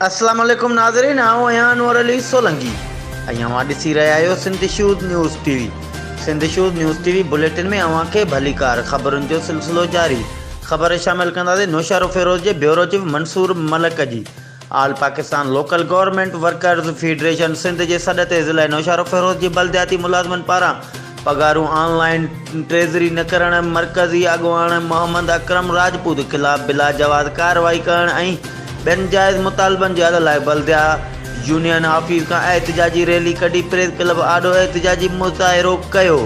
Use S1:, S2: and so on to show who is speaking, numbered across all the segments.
S1: اسلام عليڪم ناظرين آئون آهيان انور علي سولنگي ۽ اوهان ڏسي رهيا آهيو Sindh shows news T V Sindh shows news T V bulletin ۾ اوهان کي ڀليڪار خبرن جو سلسلو جاري خبر شامل ڪنداسين نوشهرو فيروز جي بيورو چيف منصور ملڪ جي all Pakistan local government workers federation Sindh جي سڏ تي ضلعي نوشهروفيروز جي بلدياتي ملازمن پاران پگهارون آن لائين ٽريزري نه ڪرڻ، مرڪزي اڳواڻ محمد اڪرم راجپوت خلاف بلاجواز ڪارروائي ڪرڻ ۽ ٻين جائز مطالبن جي حل لاء بلديا يونين آفيس کان احتجاجي ريلي ڪڍي پريس ڪلب آڏو احتجاجي مظاهرو ڪيو.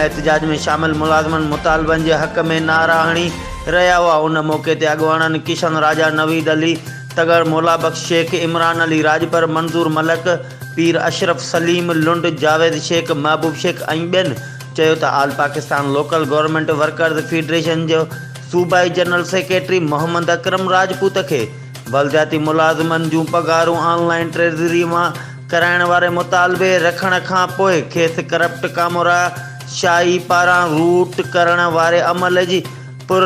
S1: احتجاج ۾ شامل ملازمن مطالبن جي حق ۾ نعرا هڻي رهيا هئا، ان موقعي تي اڳواڻن ڪشن راجا، نويد علي، تغر مولا بخش شيخ، عمران علي راڄپر، منظور ملڪ، پير اشرف سليم، لنڊ جاويد شيخ، محبوب شيخ ۽ ٻين چيو ته all Pakistan local government workers federation جو صوبائي جنرل سيڪريٽري محمد اڪرم راجپوت کي بلدياتي ملازمن جون پگهارون آن لائين ٽريزري مان ڪرائڻ واري مطالبي رکڻ کان پوء کيس ڪرپٽ ڪامورا شاهي پاران روٽ ڪرڻ واري عمل جي پر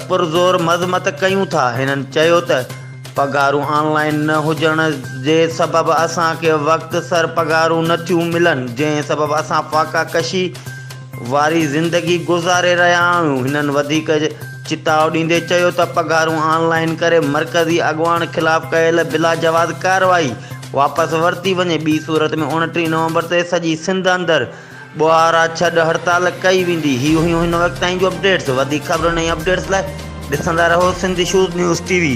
S1: پرزور مذمت ڪيون ٿا. هنن چيو ته پگهارون آن لائين نه هجڻ جي سبب اسان کي وقت سر پگهارون نه ٿيون ملن جنهن سبب اسان فاقا ڪشي واري زندگي گذاري رهيا آهيون. هنن وڌيڪ چتاء ڏيندي چيو ته پگهارون آن لائين ڪري مرڪزي اڳواڻ خلاف ڪيل بلاجواز ڪارروائي واپس ورتي وڃي ٻي صورت ۾ اوڻٽيهه نومبر تي سڄي سنڌ اندر ٻوهارا ڇڏ هڙتال ڪئي ويندي. هي هيون هن وقت تائين جون اپڊيٽس وڌيڪ خبرن ۽ اپڊيٽس لاء ڏسندا رهو Sindh issues news T V.